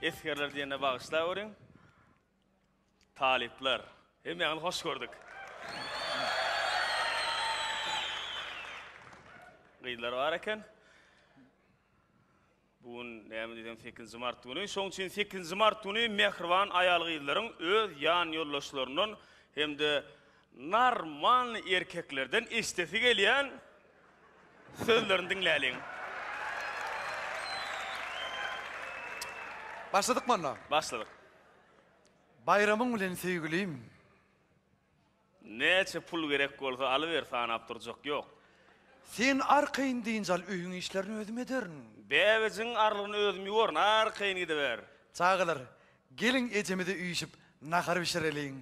Esgerler diýende bagyşlaweriň. Talyplar, hemmäňizi hoş gördük. Gyzlar bar eken. Bu gün näme diýseň sekizinji mart güni. Şonuň üçin sekizinji mart güni mähriban aýal-gyzlaryň öz ýan ýoldaşlaryndan hem-de normalnyý erkeklerden eşidesi gelýän sözlerini diňläliň. Başladykmy onda? Başladyk. Baýramyň bilen söýgülim. Näçe pul gerek bolsa alyber sanap durjak ýok. Sen arkaýyn dynç al öýüň işlerini özüm ederin. Bäbejigiň arlygyny özüm ýuwaryn arkaýyn gidiber. Çagalar, geliň ejemize üýşüp nahar bişireliň.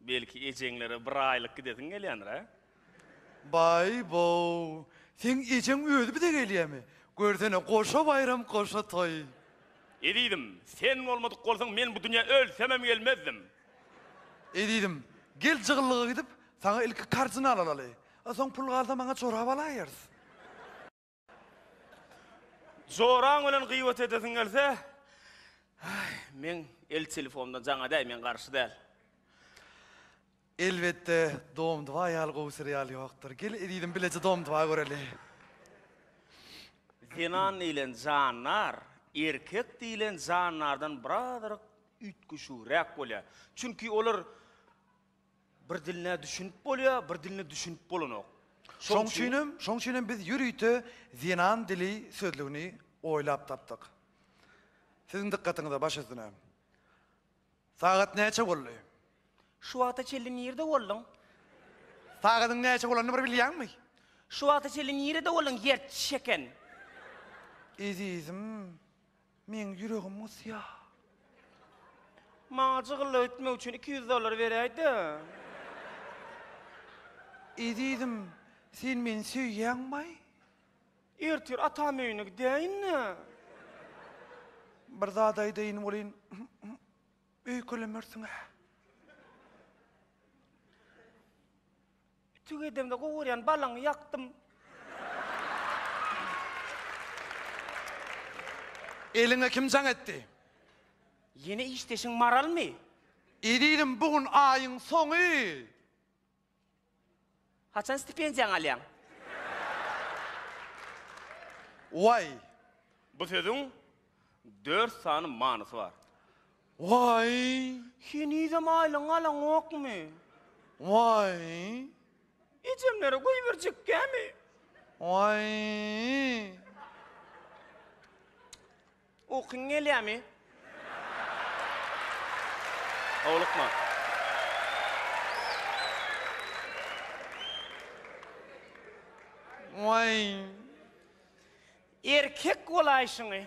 Belki ejeňlere bir aýlyk gidesiň gelýändir hä? Baý-bow, seň ejeň özi bize gelýämi? Görsene goşa baýram goşa toý. Ezizim, sen bolmadyk bolsaň men bu dünýä ölsemem gelmezdim. Ezizim, gel jygyllyga gidip, saňa ilki kardinal alaly. A soň pul galsa maňa jorap alaýarys. Joraň bilen gyýbat edesiň gelse, meň el telefonymdan jaň edäý, men garşy däl. Elbetde, Dom-dva ýaly gowy serial ýokdur. Gel ezizim bileje Dom-dva göreli. Zenan diýlen jandar erkek diýlen jandardan birazrak üýtgeşigräk bolýar. Çünki olar bir diline düşünip bolýar, bir diline düşünip bolanok. Şoň üçin hem, şoň üçin hem biz ýörite zenan dili sözlügini oýlap tapdyk. Siziň dykgatyňyza, baş üstüne. Sagat näçe boldy? Şu wagta çenli nirde bolduň? Sagadyň näçe bolanyny bir bilýäňmi? Şu wagta çenli nirede bolduň, ýerçiş eken? Ezizim, Meň ýüregim gysýa. Maňa jygyllyk etmek üçin iki ýüz dollar beräýdä. Ezizim, sen meni söýýäňmaý? Ertir atam öýüne gidäýin-dä. Bir zat aýdaýyn welin, öýkelemersiň-ä. Ütük edemde gowurýan balaňy ýakdym. Eliňe kim jaň etdi? Ýene işdeşiň Maralmy? Eziziň bu gün aýyň soňy. Haçan stipendiýaňy alýaň? Waý. Bu sözüň dört sany manysy bar. Waý! Henizem aýlygyňy alaňokmy? Waý! Ejemlere goýberjekkämi? Waý! Ukyň gelýärmi? Howlukma. Waý! Erkek bolaýşyňy.